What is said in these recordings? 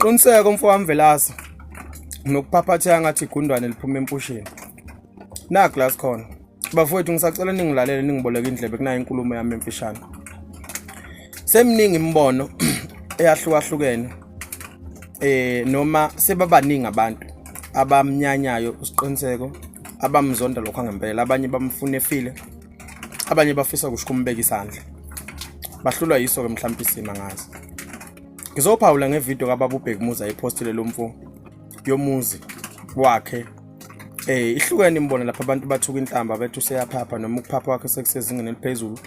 Qiniseka umfo wami Velasa nokuphaphatheka ngathi igundwane liphuma empusheni. Na glass khona. Bafowethu ngisacela ningilalele ningiboleke indlebe kunayo inkulumo yami emfishane. Semningi imibono eyahlukahlukene eh noma sebabaningi abantu abamnyanyayo usiqiniseko abamzonda lokho ngempela abanye bamfuna efile abanye bafisa kusho ukumbeka isandla bahlulwa yiso-ke mhlawumpe isima ngazi ngizophawula ngevidiyo kababa ubhekumuza ephostile lo mfo yomuzi wakhe Eh ihlukene imbona lapha abantu bathuka inhlamba bethi useyaphapha noma ukuphapha wakhe sekusezingeni eliphezulu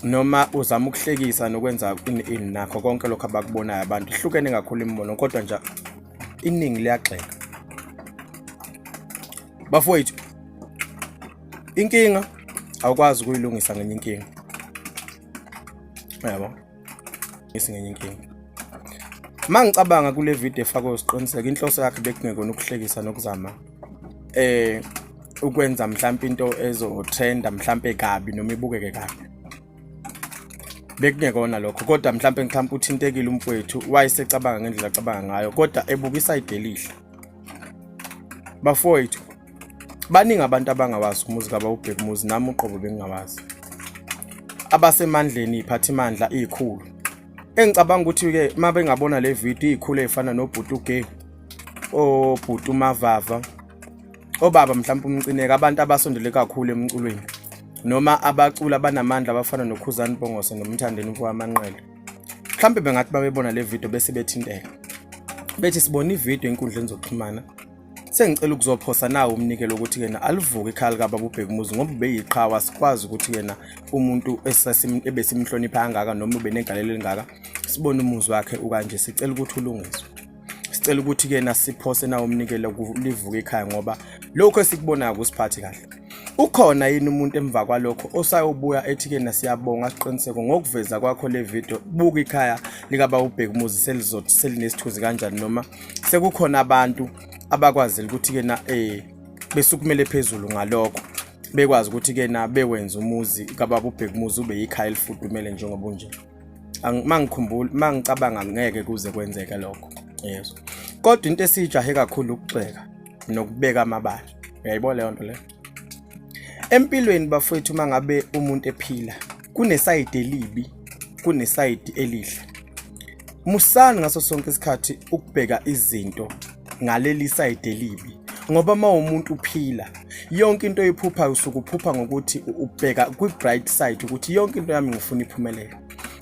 noma uzama ukuhlekisa nokwenza in in nakho konke lokho abakubonayo abantu ihlukene kakhulu imbono kodwa nje iningi liyagxeka bafowethu inkinga awukwazi ukuyilungisa ngenye inkinga yabo isingenye inkinga uma ngicabanga kule video efakwe usiqiniseka inhloso yakhe bekungekona ukuhlekisa nokuzama eh ukwenza mhlawumbe into ezotrenda mhlawumbe kabi noma ibukeke kabi bekungekona lokho kodwa mhlawumbe mhlawumbe uthintekile umfowethu wayesecabanga ngendlela acabanga ngayo kodwa ebukisa idelihle bafowethu baningi abantu abangawazi umuzi kabawubheka umuzi nami uqobo bengingawazi abasemandleni iphathimandla izikhulu engicabanga ukuthi-ke uma bengabona le video izikhulu ey'fana nobhuti ugay obhuti umavava obaba mhlawumpe umcineka abantu abasondele kakhulu emculweni noma abacula abanamandla abafana nokhuzani bongose nomthandeni mfowamanqele mhlawumbe bengathi babebona le video bese bethinteka bethi sibona ividiyo enkundleni zokuxhumana sengicela ukuzophosa nawo umnikelo ukuthi yena alivuke ikhaya likababa ubheka umuzi ngoba ubeyiqhawe asikwazi ukuthi yena umuntu ebesimhlonipha kangaka noma ubenegalelo elingaka sibone umuzi wakhe ukanje sicela ukuthi ulungiswe sicela ukuthi ke nasiphose nawo umnikelo kulivuke ekhaya ngoba lokho esikubonayo kusiphathi kahle ukhona yini umuntu emva kwalokho osayobuya ethi ke nasiyabonga siqiniseko ngokuveza kwakho le video buka ikhaya likaba ubheka umuzi selizothi selinesithuzi kanjani noma sekukhona abantu abakwazile ukuthi ke na eh besukumele phezulu ngalokho bekwazi ukuthi ke na bewenza umuzi kababa ubheka umuzi ube yikhaya elifudumele njengoba unje mangikhumbula mangicabanga ngeke kuze kwenzeke lokho yezwa kodwa into esijahe kakhulu ukugxeka nokubeka amabala uyayibona leyo nto leyo empilweni bafowethu uma ngabe umuntu ephila kunesayidi elibi kunesayidi elihle musani ngaso sonke isikhathi ukubheka izinto ngaleli side elibi ngoba uma umuntu uphila yonke into oyiphuphayo usuke uphupha ngokuthi ubheka kwi-bright side ukuthi yonke into yami ngifuna iphumelele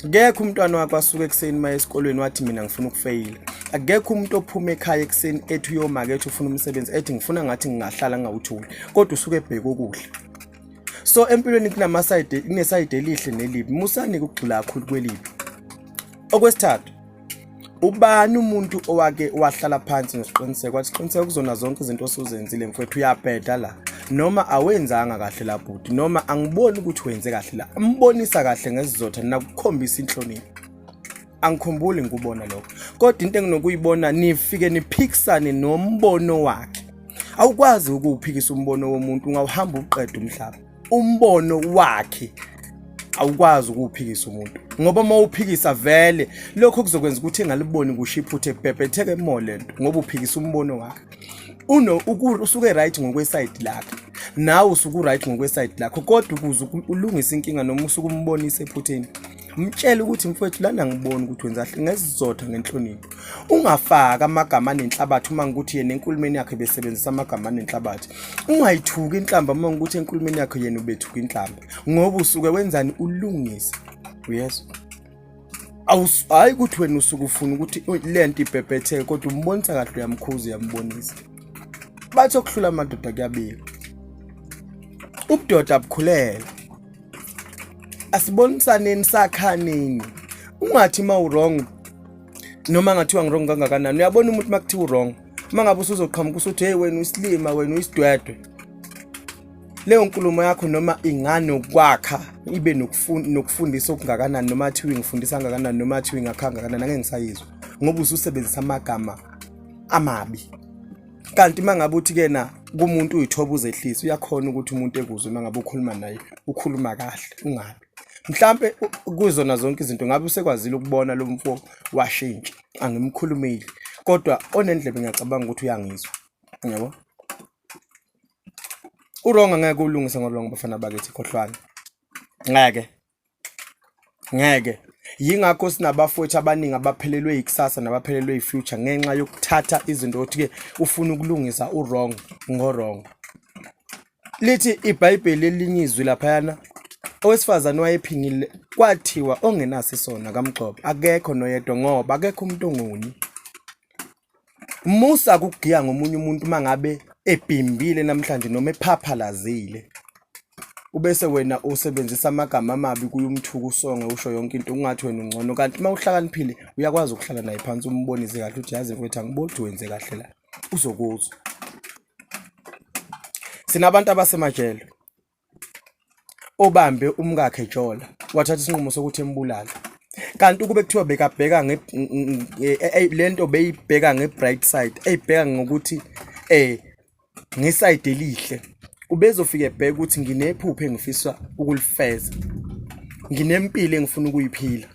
akekho umntwana wakho asuke ekuseni uma esikolweni wathi mina ngifuna ukufeyila akekho umuntu ophuma ekhaya ekuseni ethi uyomake ethi ufuna umsebenzi ethi ngifuna ngathi ngingahlala ngingawutholi kodwa usuke ebheke ukudla so empilweni kunamasayide kunesayide elihle nelibi musani ukugxila kakhulu kwelibi okwesithathu ubani umuntu owake wahlala phansi nesiqiniseko wathi siqiniseko kuzona zonke izinto osuzenzile mfowethu uyabheda la noma awenzanga kahle la bhuti noma angiboni ukuthi wenze kahle la ambonisa kahle ngesizotha nakukhombisa inhlonipho angikhumbuli ngikubona lokho kodwa into enginokuyibona nifike niphikisane nombono wakhe awukwazi ukuwuphikisa umbono womuntu ungawuhamba uqeda umhlaba umbono wakhe awukwazi ukuwuphikisa umuntu ngoba uma uphikisa vele lokho kuzokwenza ukuthi engaliboni kusho iphutha ebhebhetheke mo le nto ngoba uphikisa umbono wakhe uno usuke right ngokwesayidi lakhe nawe usuke uright ngokwesayidi lakho kodwa ukuze ulungise inkinga noma usuke umbonise ephutheni mtshele ukuthi mfowethu lana ngibona ukuthi wenza kahle ngesizotha ngenhlonipho ungafaki amagama anenhlabathi uma ngikuthi yena enkulumeni yakhe besebenzisa amagama anenhlabathi ungayithuki inhlamba uma ngikuthi enkulumeni yakhe yena ubethuka inhlamba ngoba usuke wenzani ulungisa uyezwa hayi ukuthi wena usuke ufuna ukuthi le nto ibhebhetheke kodwa umbonisa kahle uyamkhuza uyambonisa bathi okuhlula amadoda kuyabika ubudoda bukhulelwa asibonisaneni sakhaneni ungathi uma u-wrong noma ngathiwa ngi-wrong kangakanani uyabona umuntu uma kuthiwa u-wrong uma ngabe usuzoqhamuka usuthi heyi wena uyisilima wena uyisidwedwe leyo nkulumo yakho noma inganokwakha ibe nokufundisa okungakanani noma athiwa ingifundisa kangakanani noma athiwa ingakha kangakanani angeke ngisayizwa ngoba ususebenzisa amagama amabi kanti uma ngabe uthi ke na kumuntu uyithoba uzehlisa uyakhona ukuthi umuntu ekuzwe uma ngabe ukhuluma naye ukhuluma kahle ungabi mhlampe kuzona zonke izinto ngabe usekwazile ukubona lo mfo washintsha angimkhulumeli kodwa onendlebe ngiyacabanga ukuthi uyangizwa yabo uronga ngeke ulungise ngolonga bafana bakithi khohlwana ngeke ngeke yingakho sinabafowethu abaningi abaphelelwe yikusasa nabaphelelwe yifuture ngenxa yokuthatha izinto ukuthi-ke ufuna ukulungisa urong ngorong lithi ibhayibheli elinye izwi laphayana owesifazane wayephingile kwathiwa ongenaso isona kamgxobo akekho noyedwa ngoba akekho umuntu ongoni musa kugiya ngomunye umuntu uma ngabe ebhimbile namhlanje noma ephaphalazile ubese wena usebenzisa amagama amabi kuye umthuku usonge usho yonke into ungathi wena ungcono kanti uma uhlakaniphile uyakwazi ukuhlala naye phansi umbonise kahle ukuthi yazi mfethu angiboni ukuthi wenze kahle la uzokuzwa sinabantu abasemajele obambe umkakhe Jola wathatha isinqumo sokuthi embulale kanti ukube kuthiwa bekabheka lento beyibheka nge-bright side eyibheka ngokuthi eh ngesayidi elihle ubezofike ebheka ukuthi nginephupho engifisa ukulifeza nginempilo engifuna ukuyiphila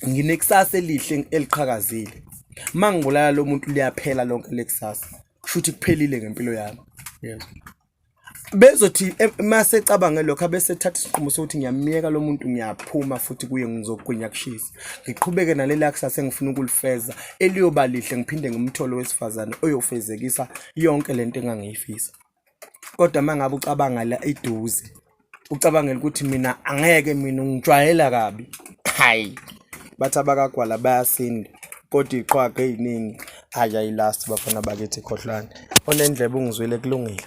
nginekusasa elihle eliqhakazile uma ngibulala lo muntu liyaphela lonke lekusasa kusho ukuthi kuphelile ngempilo yami yezwa bezothi eh, mase ecabange lokho abese ethatha isinqumo sokuthi ngiyamyeka lo muntu ngiyaphuma futhi kuye ngizogwinya kushisa ngiqhubeke nalela kusasa engifuna ukulifeza eliyoba lihle ngiphinde ngimthole wesifazane oyofezekisa yonke lento engangiyifisa kodwa mangabe ucabanga la iduze ucabangela ukuthi mina angeke mina ungijwayela kabi hayi bathi abakagwala bayasinda kodwa iqhwaga eyiningi hayi ayilast bafana bakithi khohlwane onendlebe ungizwile kulungile